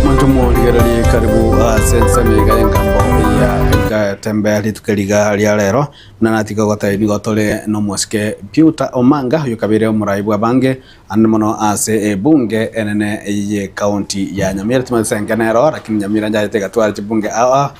Omonto omorigereria ekaribu ase ensemo iga y'engambo eyia egatembea rituko riga ria rero, buna natiga ogoteba ebigo tore nomosike Peter Omanga, oyokabeire omorai bw'abange ande mono ase ebunge enene ye county ya Nyamira. Timanyete enke nero lakini Nyamira nchayete egatwara chibunge ao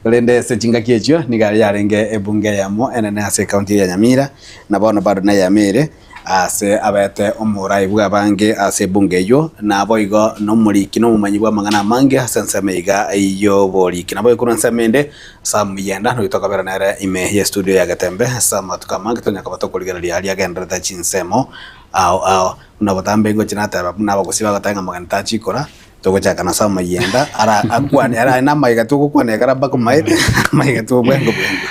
korende ase chingaki echio niga yarenge ebunge yamo enene ase county ya Nyamira na bono bado neyamo ere. ase abete omorai bw'abange ase ebungo eyio, naboigo nomoriki na omomanyi bw'amang'ana amange ase ensemo eiga y'oboriki. Nabo ekorwa ensemo ende ase omoyenda, noyo tokabera nere ime y'estudio ya Getembe ase amatuko amange tonya koba tokorigereria aria agendererete chinsemo ao ao. Buna obotambe ingochi nateba buna abagusii bagoteba ng'a mogeni tachikora, Togochaka nase amayenda ara akwane ara na amaiga togokwana ekara mpaka maete amaiga tobwengo bwengo.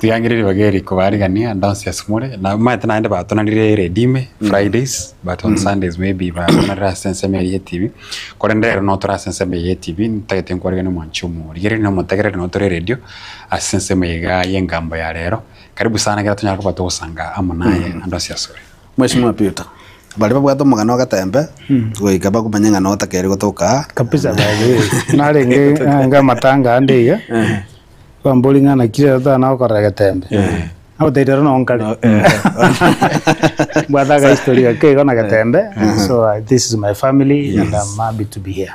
Tigangire ribaga eri kobarigania ndonsi ase more na maete naende batonarire redime Fridays but on Sundays maybe batonarire ase ensemo eri ye TV korende ero no tore ase ensemo eye ye TV ntagete nkwariganie mwanchi omo rigereria na omotegereri no tore radio ase ensemo eye iga ye engambo ya rero karibu sana kera tonyare koba togosanga amo naye ndonsi asore. Mweshimiwa Peter, baria babwate omogano o gatembe goika bakomanya ng'a notakeire gotoka aa. Kabisa by the way narenge ange amatanga ande iga bambori ng'a nakire ero tana gokorera getembe nagotebi ero no nkare mbwate aka history gake igo na getembe so this is my family and I'm happy to be here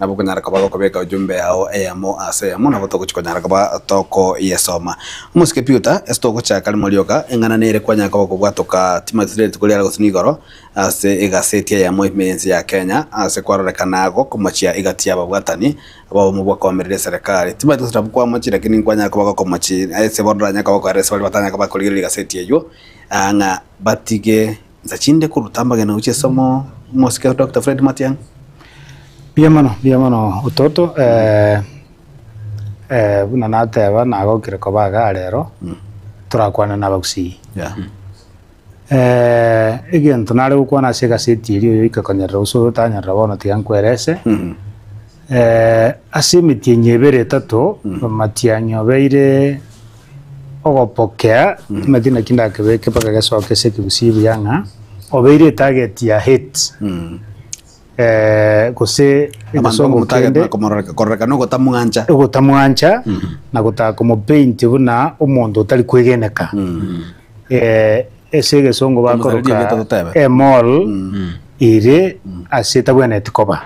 Nabo okonyara koba gokobeka ejumbe yao eyemo ase eyemo, nabo togochia konyara koba tokoyesoma. Omosike Piuta, ase togochaka rimo rioka, eng'ana nere kwanyare koba okobwatoka Timothy-Dent koria aragosirwe igoro ase egaseti eyemo ime y'ense ya Kenya ase kwarorekana agwo komochia egati y'ababwatani abaomo bw'okoamerera eserekari. Timothy-Dent nabwo kwamochire naki nkwanyare koba gokomochi ase bono oranyare koba okoerera ase baria batanyare koba bakorigereria egaseti eyio ng'a batige Insa chinde koruta amagena gochia esomo omosike Doctor Fred Matiang'i. Mbuya mono mbuya mono ototo eh, eh, buna nateba nagokire koba iga rero torakwane na abagusii Yeah. eh, egento nare gokwana ase egaseti eria oyoika konyerera gose oyo otanyerera bono tiga nkwerese Mm. eh, ase emetienyi ebere etato Matiang'i obeire ogopokea timati naki ndakebeke mpaka gesoke ase ekegusii buya ng'a obeire etarget ya hate eh, gose Abanto egesongo ogomotarget kende na komororeka- kororekana ogotamwancha. ogotamwancha na gotaka komopaint buna omonto otari kwegeneka Eh, ase egesongo Omosareri bakoroka egete totebe. a mall ere ase etabwenereti koba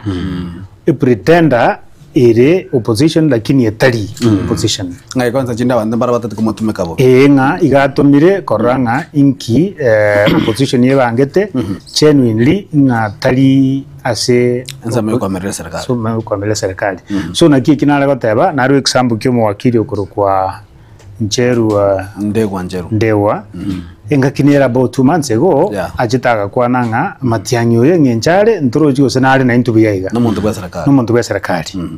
a pretender ere opposition lakini etari opposition Ng'a ekonsa chinde abanto mbare batati komotumeka bo. ee ng'a igatomire korora ng'a inki eh, opposition ebangete genuinely ng'a tari ase Ensemo y'okoamerera eserikali. ensemo y'okoamerera eserikali so naki eki nare goteba naro example kia omowakiri okorokwa ncherua Ndegwa ncheru. ndegwa engaki nere about two months ago Yeah. achete agakwana ng'a Matiang'i oyo eng'encho are ntorochi gose nare na intwe buya iga Nomonto bwa serikali. nomonto bwa serikali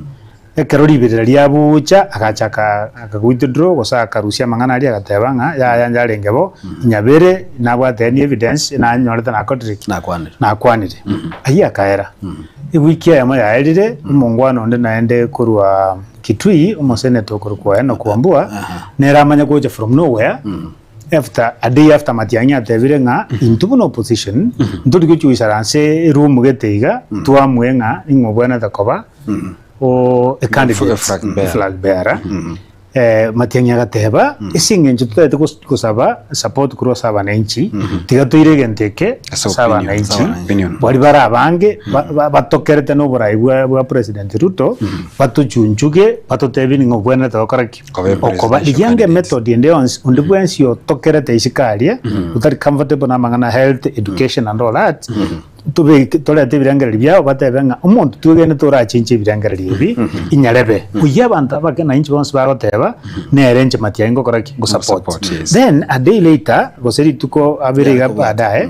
ekero riberera riabucha agachaka aka withdraw gose akarusia amang'ana aria agateba ng'a yaya yarenge bo nyabere nabwate any evidence nanyorete nakorire ki Nakwanire. nakwanire ayio akaera ewiki eyemo yaerire omongwana onde naende korwa Kitui omoseneta okorokwa Enock Wambua nere amanya gocha from nowhere after a day after Matiang'i atebire ng'a intwe buna opposition ntori gochia goisara ase eroom gete iga twamue ng'a ning'o obwenerete koba o a candidate, Flag bearer. flag bearer. Eh, Matiang'i agateba ase eng'encho totaete gos- Gosaba support korwa ase abananchi, tiga toire egento eke Ase ase opinion, ase abananchi, opinion. baria bare abange ba- ba- batokerete na oborai bwa bwa President Ruto, batochunchuge, batotebie ning'o obwenerete gokora ki? Koba Okoba. presidential Riria anga candidate. method ende yonsi, onde bwensi otokerete isiko aria, otari comfortable na amang'ana health, education and all that, Tobeke, torete ebirengererio biao, batebe ng'a omonto twegenete orachinche ebirengererio ebi, inyarebe. Oyio abanto abake na inche bonsi bagoteba, nere inche Matiang'i ngokora ki? Ngosupport. Ngosupport, yes. Then a day later, gose rituko abere iga Yarikobwate. baadaye,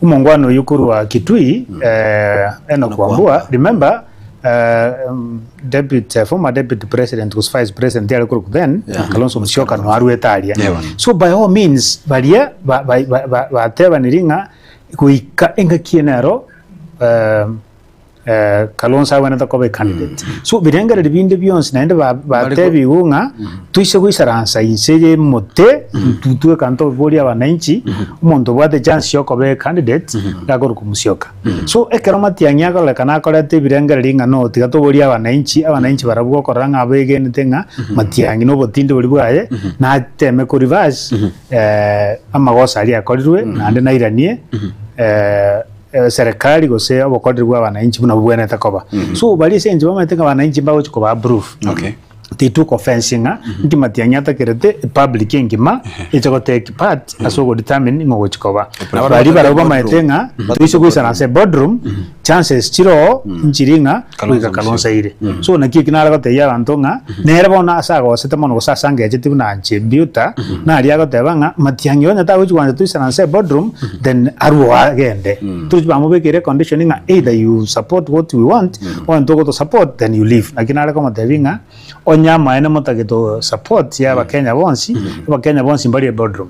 omongwana oyio korwa Kitui, eh, Enock Wambua, remember, eh, em, deputy, eh, former deputy president gose vice president yare korokwa then, Yeah. Kalonzo Musyoka noarwete aria. Yeah. So by all means, baria ba- ba- ba- ba- batebaniri ng'a Goika engaki eye nero Kalonzo agwenerete koba ecandidate. So birengererio binde bionsi naende ba- Bari ko- batebigwe ng'a toise goisaransa inse eye emote intwe intwe ekanta oboria wananchi omonto obwate chance ya okoba ecandidate nakorwa komosioka. So ekero matiang'i akorekana akoreta ebirengererio ng'a no tiga toborie abananchi, abananchi barabwo okorora ng'a abegenete ng'a matiang'i na obotindi boria bwaye nateme ko reverse eh, amagoso aria akorirwe naende nairanie eh, eh, serikali gose obokoreri bwa abananchi buna bobwenerete koba so baria ase enchera bamaete ng'a abananchi mbagochi koba approve Okay. tituko fencing ng'a nki matiang'i atakerete public engima eche gotake part ase ogodetermine ng'ogochi koba Nabo baria barabwo bamaete boardroom. ng'a toise goisana ase boardroom chances chiroo nchiri ng'a goika Kalonzo aire. So naki eki nare gotebia abanto ng'a nere bono ase agosete mono gose ase angecheti buna Anchebiuta naria agoteba ng'a Matiang'i onye tagochi gwancha toisana nse boardroom then arue agende. Tochi bamobekere condition ng'a either you support what we want or intwe gotosupport then you leave. Naki nare komotebia ng'a onye amaene motagete support y'Abakenya bonsi, Abakenya bonsi mbarie boardroom.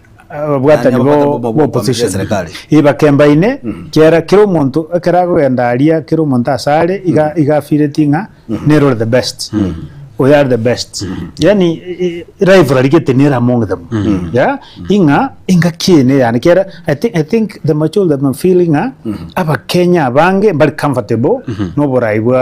ababwatani b'opposition ee bakembaine kera kera omonto ekero akogenda aria kera omonto ase are iga iga afeelingi ng'a nere ore the best oyo are the best yaani rivalry gete nere among them yeah ing'a engaki eye neye yane kera I think I think the majority of them feel ng'a abakenya abange mbare comfortable na oborai bwa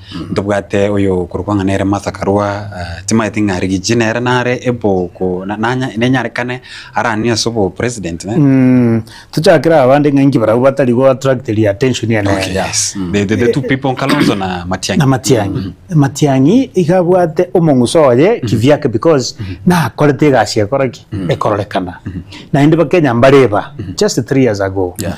Ntobwate oyo korokwa ng'a nere Martha Karua, timanyeti ng'a Rigiji nere nare eboko nenyarekane aranie ase obo president ne. Tochakere abande ng'a inki barabwo batari go attract ri attention ene Okay enga. yes. The, the, the two people Kalonzo na Matiang'i. Na Matiang'i. Matiang'i iga abwate omong'uso oye kivyake because nakorete egasi ekora ki? Ekororekana. Naende Bakenya mbareba just three years ago. Yeah.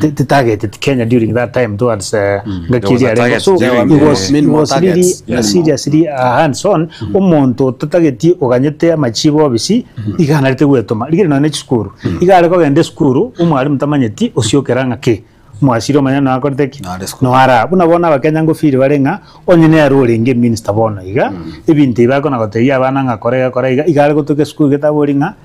T- t- targeted Kenya during that time towards uh, Mm. There was a Gakiria target so during he the- was, Many he more was really targets. uh, seriously uh, hands on omonto totagetie oganyete amachibo obisi iganarete gwetoma rigire none chisukuru igare kogenda esukuru omwarimu tamanyeti osiokera ng'a ki mwasiri omanya noakorete ki Nare sukuru. noara buna bono abakenya ngofiri bare ng'a onye nere orenge minister bono iga ebinto ibi akona gotebia abana ng'a kora iga kora iga igare gotoka esukuru getabori ng'a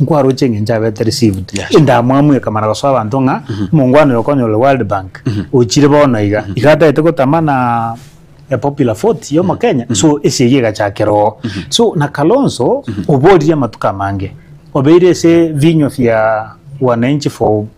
Nkwaroche engencho abete received endamwamu ekamara gosoa abanto ng'a omongwana oyo okonyora ore world bank ochire bono iga iga atagete gotama na a popular vote ya omokenya so esegi egachakera oo so na kalonzo oboriri amatuko amange obeire ase vinywa via wananchi for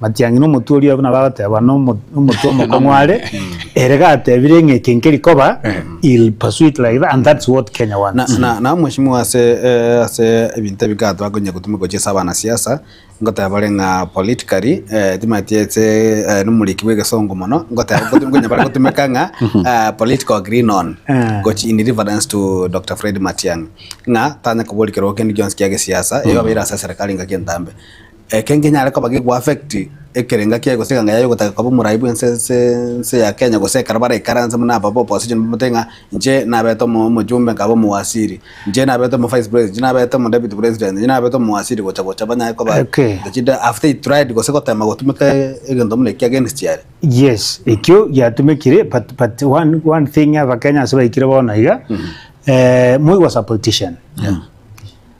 Matiang'i nomotwe oria buna bagoteba nomo nomotwe omokong'u are, ere gatebire ng'a eke nkeri koba he'll pursue it like that and that's what Kenya Na, wants. na, na mweshimiwa ase eh, ase ebinto ebi ka twakonya gotuma gochia ase abanasiasa ngoteba bare ng'a politically eh, timanyeti ase eh, nomoriki bw'egesongo mono ngoteba gotuma konya bare gotumeka ng'a ah, political green on Eh. gochi in reference to Dr. Fred Matiang'i ng'a tanya koboria kerwa kende gionsi kia gesiasa eyo abeire ase serikali ngaki entambe Eke nkenyare koba geku affect ekerenga kiaye gose eganga yaye ogotaka koba omorai bwense ense ense ya Kenya gose ekero baraikaranse buna aba ba opposition mbamate ng'a inche nabete omo omojumbe nkaba omowasiri inche nabete omo vice president inche nabete omo deputy president inche nabete omowasiri gocha gocha banyare koba Eke. into chinde after he tried gose gotema gotumeka egento buna ekio against yare. Yes, ekio giatumekire but but one one thing abakenya ase baikire bono iga eh moigwa supportition.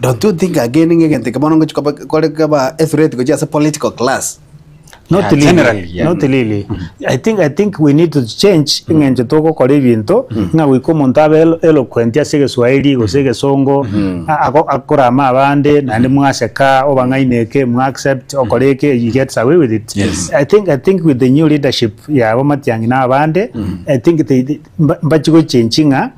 Don't you think again ng'a egento eke bono ngochi koba kore kaba ethreat gochia ase political class? Not Yeah, really, generally, yeah. not really. I think I think we need to change eng'encho togokora ebinto ng'a goika omonto abe elo- eloquent ase egeswahili gose egesongo a- ago- akorama abande naende mwaseka obang'aine eke mwa accept okore eke he gets away with it Yes. I think I think with the new leadership yabo Matiang'i na abande I think they, they mba- mbachi gochenchi ng'a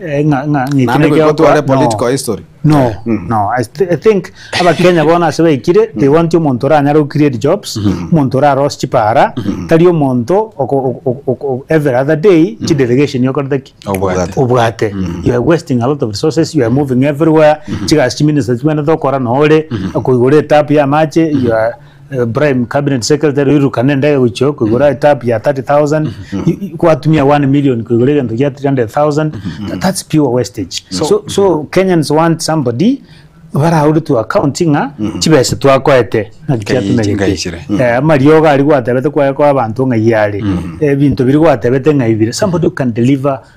Eh, ng'a- ng'a- ng'iki Naende nekio goika tware okora- political no. history. no no I, th I think abakenya bono ase baikire they want omonto oranyare go create jobs omonto orarosie chipara tari omonto oko- oko- oko- oko- every other day chi delegation okorete ki Obwate. obwate you are wasting a lot of resources you are moving everywhere chigasi chiminisa chibwene tokora nore koigora etapu ya amache you are eh, prime cabinet secretary oirukana endege gochia koigora etap ya 30000 i- i- kwatumia 1 million koigora egento gia 300000 Tha- that's pure wastage so, so, kenyans want somebody baraure to account ng'a chibesa twakoete naki Ngai- ngai chiatumegete chire. Mm. Eh, amariogo ari gwatebete kwaye kwa abanto ng'ai are ebinto biri gwatebete ng'ai bire somebody who can deliver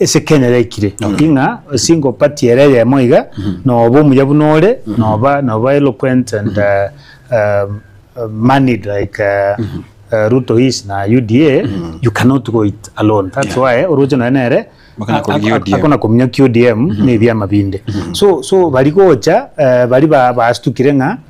Ase Kenya yaikire Okay. ng'a single party ere eyemo iga noba omuya buna ore noba noba eloquent and uh, um, uh, moneyed like uh, uh, Ruto is na UDA you cannot go it alone that's why oroche noe nere Bakana a- korugia a- a- ODM. akona kominyokia ODM ne ebiama binde so so bari gocha eh, bari ba- bastukire ng'a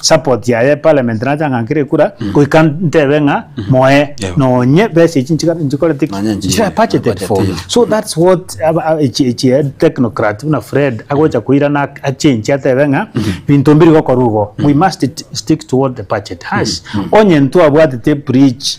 support yaye parliament nacha ng'a nkere ekura goika ntebe ng'a moe Yebo. nonye besa echi nchika- nchikorete ki? Nonye nchi- Nchira budgeted budgeted. for so that's what aba- a- echi echi eh, technocrat buna fred agocha koirana ak- achange atebe ng'a binto mbiri gokorwa igo we must t- stick to what the budget has onye ntwabwatete bridge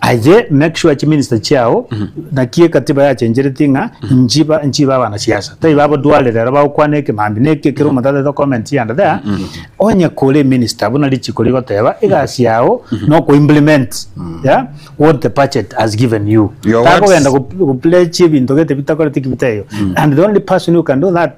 Aye make sure chi minister chiao naki ekatiba yachencheretie ng'a inchi ba inchi ba bana siasa tari ba bodware rero bagokwana ekemambia naki ekero omonto atagete comment yande there onye kore minister buna richiko rigoteba egasi yao no ko implement yeah what the budget has given you Your words. takogenda go go pledge ebinto gete bitakoreti ki biteyo and the only person who can do that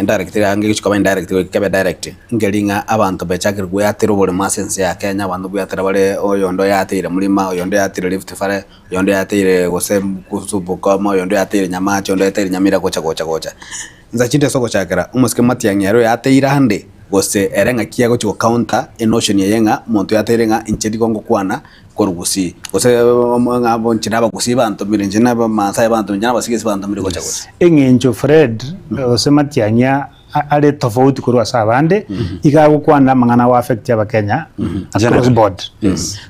indirect iga ngegechia koba indirect goika kebe direct nkeri ng'a abanto bachakire goyatera oborimo ase ense ya Kenya, abanto bweatera bare oyonde oyateire murima, oyonde oyateire Rift Valley, oyonde oyateire gose kuhusu Bungoma, oyonde oyateire Nyamach, oyonde oyateire Nyamira gocha gocha gocha. Insa chinto ase ogochakera omosike matiang'i ere oyateire ande gose ere ng'aki agochia go counter enotion eye ng'a omonto oyateire ng'a inche nigo ngokwana. korwa gusii, gose ng'a abwo inche na abagusii bantomire, inche na Abamaasai bantomire, inche na Abasigisi bantomire gocha gose. Eng'encho Fred gose Matiang'i a- a- are tofauti korwa ase abande, iga agokwana amang'ana ago affect Abakenya across Generally. board.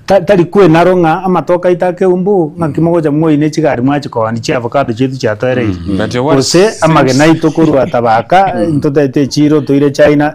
Ta- Tari kwena aro ng'a amatoke aito ake eumbu, ng'aki mogocha moine chigari mwachikooni chia avocado chiaito chiatoereire. But what Gose amagena seems- aito korwa tabaka, ntotete echiro toire China,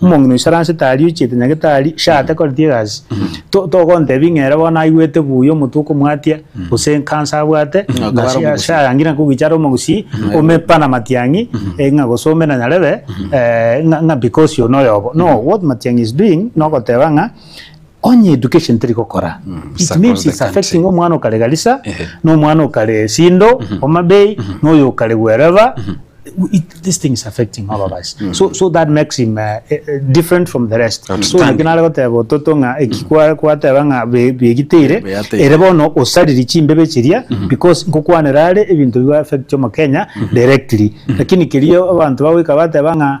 Omong'ina oiso aransete aria ochiete nyagetari, shate koreti egasi. To togontebia ng'a ere bono aigwete buya omotwe okomwatia, gose enkansa abwate, Ng'a ng'a akabare shi- omogusii. shayangire ng'a kogicha are omogusii, omepa na matiang'i, eh, ng'a gose ome na nyarebe, eh, ng'a ng'a because oyo noyobo. No, what Matiang'i is doing, nogoteba ng'a. Onye education teri gokora it means it's affecting omwana okare Garissa na omwana okare Sindo, Homa Bay na oyo okare wherever this thing is affecting all of us so that makes him different from the rest so naki nare goteba ototo ng'a eki kwateba ng'a begiteire ere bono osaririe chimbebe chiria because nkokwanera are ebinto bi affect omokenya directly lakini kerio abanto bagoika bateba ng'a.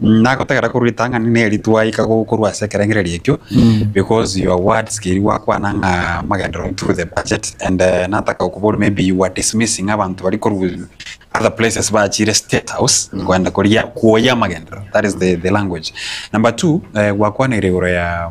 Nagotegera korwa ritang'ani ne eri twaika ko- korwa ase ekerengererio ekio because your words keri gwakwana ng'a amagendero into the budget and eh, nataka gokoboria maybe you were dismissing abanto bari korwa other places bachire state house koenda koria kwoyia amagendero that is the, the language number two eh, gwakwaniire igoro ya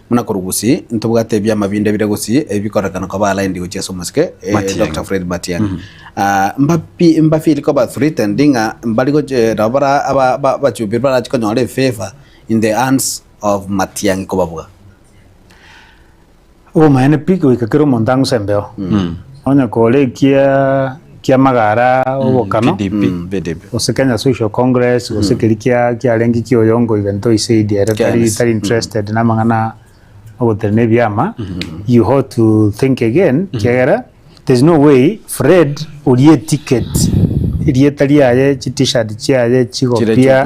Buna korwa gusii, ntobwate ebiama binde bire gusii ebi bikorekana koba aligned gochia ase omosike, eh, Matiang'i. Doctor Fred Matiang'i. Ah, mbapi- mbafeel koba threatened ng'a mbari goch- eh, nabo bara aba- ba- abachumbi barachi konyora efavour in the hands of Matiang'i kobabuga. Obomaene pi goika kera omonto ang'use embeo. Onye kore ekia kia amagara obokano, gose Kenya Social Congress, gose keri kia kiarenge kia oyongo even though he said ere tari tari interested na amang'ana ogotenena ebiama, you ought to think again kiagera there's no way Fred orie eticket, erieta riaye, chi T-shirt chiaye, chigopia,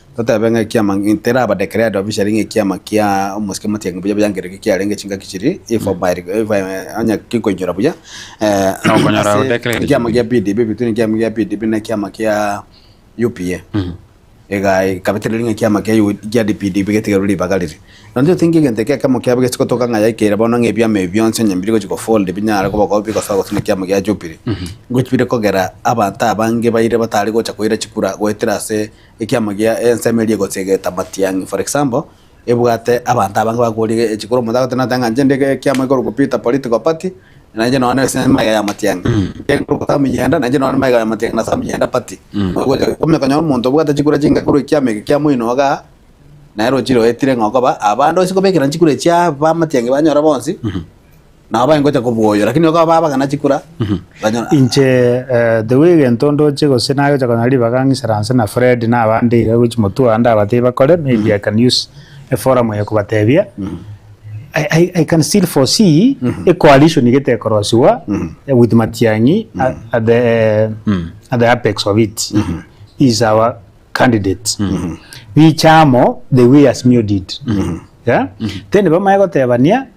Totebe ng'a ekiama nkerabadekere ande babisa ring'o ekiama kia omosike motienge mbuya biangere ki kiarenge chingaki chiri ifo bairi ifo onye kinkoinyora buya Okonyora odekere gete ekiama kia PDB between ekiama kia PDB na ekiama kia UPA ega ikabetera ring'o ekiama kia U- kia DPD bigetigerwa ribaga riri nonye totingi egento eke ekemo kiabo gesi gotoka ng'a yaikeire bono ng'a ebiama ebi bionsi onye biri gochi go fold binyare koba ko bigosoa gose na ekiama kia Jubilee ngochi bire kogera abanto abange baire batari gocha koira chikura goetera ase Ekiama gia ensemo eria egosegeta amatiang'i. For example, ebwate abanto abange bakoria echi kore omonto agote nate ng'a inche ndi ekiama ekorokwa Peter Political Party na inche nonye nase emaiga ya amatiang'i ekorokwa Sam Yenda na inche nonye emaiga ya amatiang'i na Sam Yenda Party. Ogocha komanya konyora omonto obwate chikura chinga korwa ekiama eke kia moino iga nere ochire oetire ng'a okoba abande ase kobekera chikura echi abamatiang'i banyora bonsi Nao bagengocha kobua oyo, lakini bakaba babagana chikura, banyora Inche eh, the way gento ndoche gose nagocha konya ribaga ng'isaranse na Fred na abande iga gochi motwe ande abatebie bakore maybe I can use a forum eye kobatebia I, I, I can still foresee a coalition igete ekorosiwa eh, with Matiang'i at, at the eh, at the apex of it is our candidate bichamo the way Asmio did yeah? then bamanye gotebania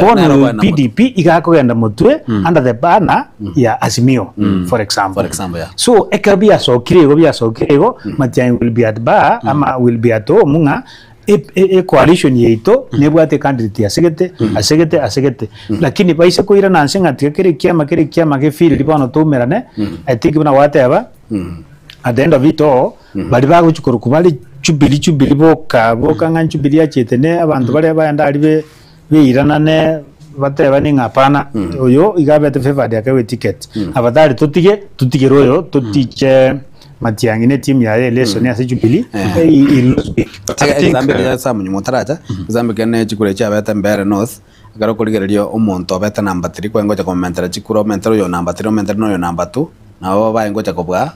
Bono PDP iga akogenda motwe under the banner ya Azimio for example. For example, yeah. So ekero biasokire igo biasokire igo matiang'i will be at bar ama will be at home ng'a e- e- ecoalition yaito nebwate candidate asegete asegete asegete lakini baise koirana anse ng'a tiga kera ekiama kera ekiama ge feel ri bono twaumerane I think buna gwateba at the end of it all bari bagochi korokwa bare Jubilee Jubilee boka boka ng'a Jubilee yachete ne abanto baria baenda aria be beiranane batebanie ng'a hapana oyo iga abete favored ake we ticket aba tari totige totigere oyo totiche matiangi ne timu yaye eleson ase jubilee he he lose big but I think egesambe eria samuel motaracha egesambe ekeria ne chikura echi abete mbeere north ekero okorigereria omonto obete number three kwengocha komomentera chikura omentere oyo number three omentere na oyo number two nabo baye ngocha kobua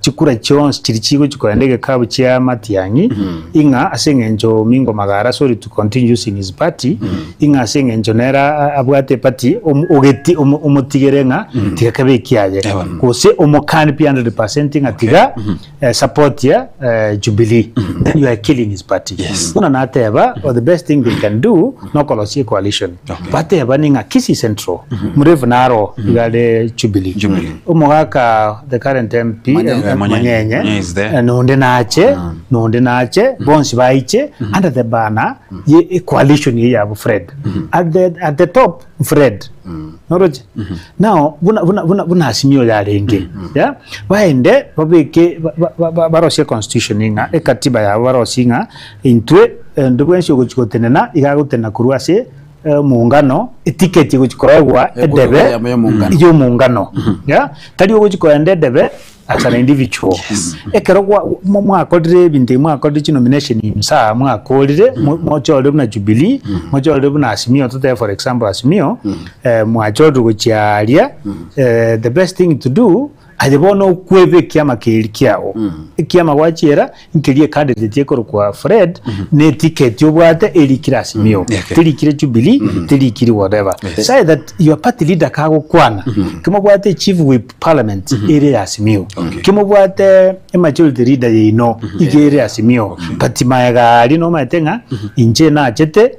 chikura chionsi chiri chigochi korenda egekabu chia Matiang'i, ing'a ase eng'encho Mingo Magara, sorry to continue using his party, ing'a ase eng'encho nere a- abwate epati omo- ogeti- omo- omotigere ng'a tiga kebe ekiaye gose omokani pi 100% ng'a tiga eh, support ya eh, Jubilee then you are killing his party Yes. buna nateba or the best thing they can do nokorosia coalition Bateba ning'a Kisii Central mrefu naro iga re Jubilee. Jubilee. Omogaka the current MP Manyenye. eh, Manyenye Manyenye is there. eh, nonde nache nonde nache bonsi baiche under the banner ye e coalition ye yabo Fred. At the at the top Fred. Noroche. Now buna buna buna buna asimio yarenge. Yeah? Baende babeke ba- ba- ba- barosie constitution ing'a ekatiba yabo barosie ing'a Intwe ende bwensi ogochia gotenena iga agotenena korwa ase emungano, etiketi egochia koegwa edebe y'omongano, yeah? Tari ogochia koenda edebe as an individual. Ekero gwa mo mwakorire ebinto ebi mwakorire chinomination in msaa mwakorire mo mochorire buna Jubilee, mochorire buna Asmio totebe for example Asmio, mwachorire gochia aria, the best thing to do, Aye bono okwebe ekiama keri kiao. Ekiama gwachiera nkeria ecandidate ekorokwa Fred na eticket obwate erikire Azimio. Eke. Terikire Jubilee, terikire whatever. Sae that your party leader kagokwana, kimobwate chief whip parliament ere ya Azimio. Kimobwate emajority leader yaino iga ere Azimio. But maega aria nomaete ng'a inche nachete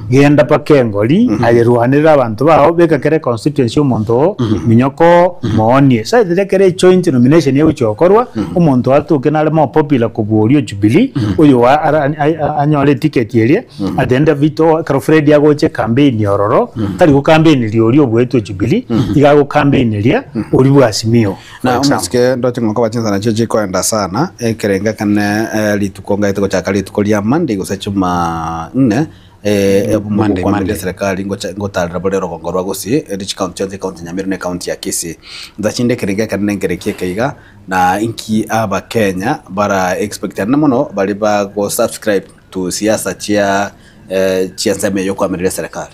Genda mpaka engori, aye rwanerera abanto bao, beka kera econstituency omonto oo, minyoko oo, moonie. Saiti riria kera ejoint nomination egochia gokorwa, omonto atoke nare more popular kobua oria o Jubilee, oyo wa ara a- anyore eticket eria, at the end of it all, ekero Fred agocha ekambeini ororo, tari gokambeiniri oria obuetwe Jubilee, iga agokambeineria oria bwa Azimio. Na omosike ndoche nkoba chinsana chio chikoenda sana, ekerengo ekane rituko ngaete gochaka rituko ria Monday gose Juma nne, Monday, Monday. eserikali ngocha ngotarera bore rogongo rwa Gusii, eri chikaunti chionsi ekaunti ya Nyamira na ekaunti ya Kisii. Ntache inde ekerengo ekane nengerekie eke iga, na inki abakenya bara expect ande mono baria ba go subscribe to siasa chia chia ensemo eye yokoamerera eserikali.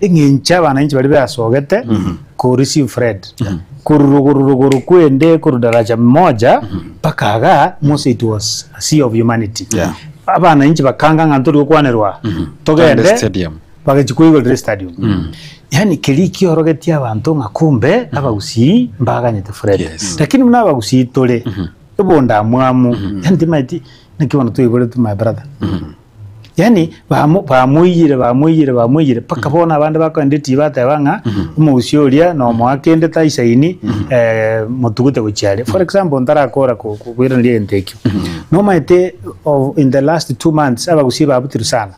Eng'encho abananchi baria beasogete korwa Sinfred, korwa rogoro rogoro kwende korwa daraja moja mpaka aga mose it was a sea of humanity. Yeah. Abananchi bakanga ng'a ntori gokwanerwa togende Tande stadium. bagachia koigorera estadium. Yaani keria kiorogetie abanto ng'a kumbe abagusii mbaganyete Fred. Yes. Lakini buna abagusii tore ebondamwamu yaani timaeti naki bono toigoretwe my brother. Yaani bamo bamoiyire bamoiyire bamoiyire mpaka bono abande bakoenda etii bateba ng'a omogusii oria na omoa kende taisaini eh, motugute gochia are. For example ntarakora ko- ko- koiraneria egento ekio. Nomaete o- in the last two months abagusii babutiru sana.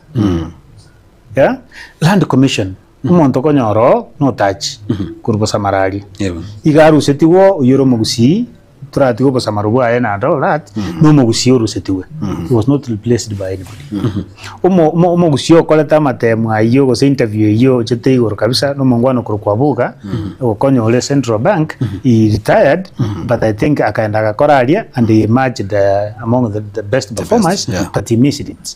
Yeah? Land commission. Omonto okonyora oo notachi korwa bosamararia, iga arusetigwe oo oyio ore omogusii, toratige obosamaro bwaye naende ore at na omogusii orusetigwe, he was not replaced by anybody. Omo omo omogusii okorete amatemo ayio gose interview eyio ochete igoro kabisa na omongwana okorokwa Abuga, ogokonya ore Central Bank, he retired but I think akaenda agakora aria and he emerged among the the best performers, but he missed it.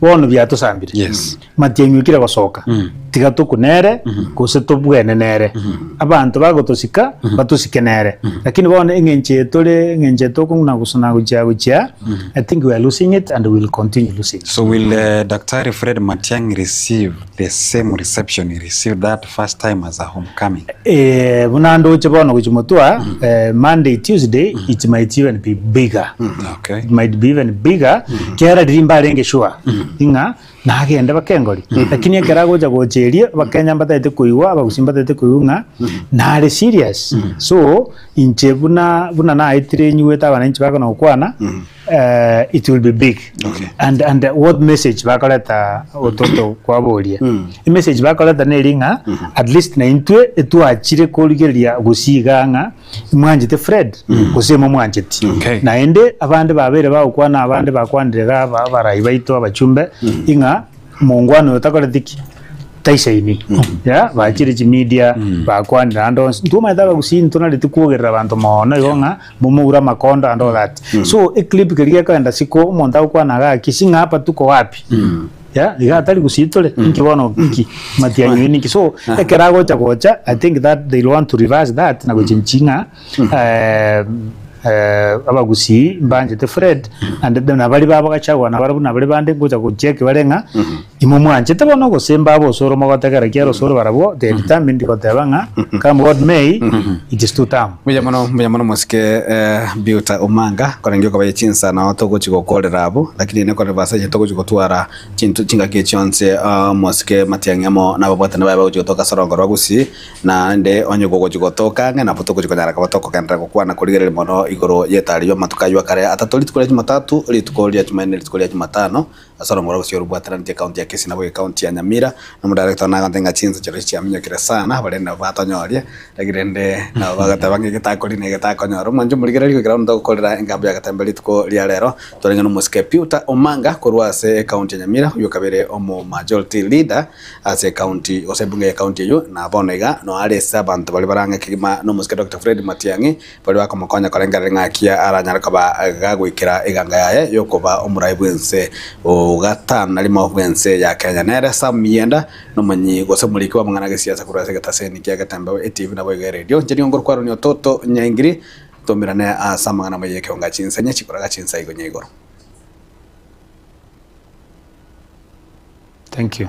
Bono biatosambire. Yes. Matiang'i okire gosoka. Tiga tokwe nere gose tobwene nere. Abanto bagotosika batosike nere. Lakini bono eng'encho eye tore eng'encho eye tokong'una gosa na gochia gochia I think we are losing it and we will continue losing it. So will uh, Daktari Fred Matiang'i receive the same reception he received that first time as a homecoming. Eh, buna ndoche bono gochi motwa eh, monday tuesday it might even be bigger Okay. it might be even bigger kera riri mbarenge sure ing'a nagende bakengori lakini ekera agocha gocha erio bakenya mbatete koigwa abagusi mbatete koigwa ng'a nare serious so inche buna buna naetire nyigwete abananchi bakona gokwana uh, it will be big okay. and, and uh, what message bakoreta ototo kwaboria mm. message bakoreta neri ng'a mm -hmm. at least naintwe etwachire korigeria gosiga ng'a mwanjete fred mm. gose mo mwanjeti okay. naende abande babere bagokwana abande bakwanire ga abarai baito abachumbe mm. ing'a mongwana oyo takoretiki taisaini mm. ya bachire chimedia mm. bakwanire ando ntumaete abagusi ntunareti kwogerera abanto mono igo ng'a momoure amakondo and all that so eclip keria gekoenda siko omonto agokwana iga gaki si ng'a hapa tuko wapi ya iga atari gusii tore inki bono oki matiang'i oyo ninki so ekero agocha gocha i think that they want to reverse that na gochenchi ng'a eh, eh, abagusii mbanchete fred and then abari babo gachagua nabare buna abari bande ngocha gochia ekebare ng'a Imwe mwanchete bono ogosemba abosoro mogotegera ki arosoro barabwo they determined goteba ng'a come what may it is to term. Buya mono buya mono mosike eh, Biuta Omanga korenge okobaye chinsa nao togochi gokorera abwo lakini nekore basa inche togochi gotwara chinto chingaki chionsi ah, mosike Matiang'i amo nababwatani baye bagochi gotoka ase orongo rwa Gusii naende onye gogochi gotoka ang'e nabo togochi konyara koba tokogenderera gokwana korigereria mono igoro y'etari y'amatuko aywo akare atato rituko ria Jumatatu rituko ria Jumanne rituko ria Jumatano ase orongoro gose orobwataraneti ekaunti ya Kisii nabo ekaunti ya Nyamira, na omodirector one agoteba ng'a chinsa chiaito chiaminyokire sana abo rende nabo batonyoria, like rende nabo bagoteba ng'a ege takori na ege takonyora. Omwancho morigererie goika bono togokorera engambo y'agatemba rituko ria rero, twarenge n'omosike Peter Omanga korwa ase ekaunti ya Nyamira, oyio okabeire omo majority leader ase ekaunti gose ebunge y'ekaunti eyio, na bono iga noyo are ase abanto baria barang'e kegima nomosike Doctor Fred Matiang'i baria bakomokonya korengereria ng'aki aranyare koba gagoikera eganga yaye y'okoba omoraai bw'ense o gatano na rimo bw'ense ya Kenya. Nere Sam Miyenda, nomonyii gose moriki bw'amang'ana a gesiasa korwa ase egetaseni kia Getembeo etibi naboigo eredio Njeri Ongoro Kwarweniwa Toto Nyaingiri. Twaumerane ase amang'ana amaya y'ekeonga chinsa inya chikoraga chinsa igoro nya igoro. Thank you.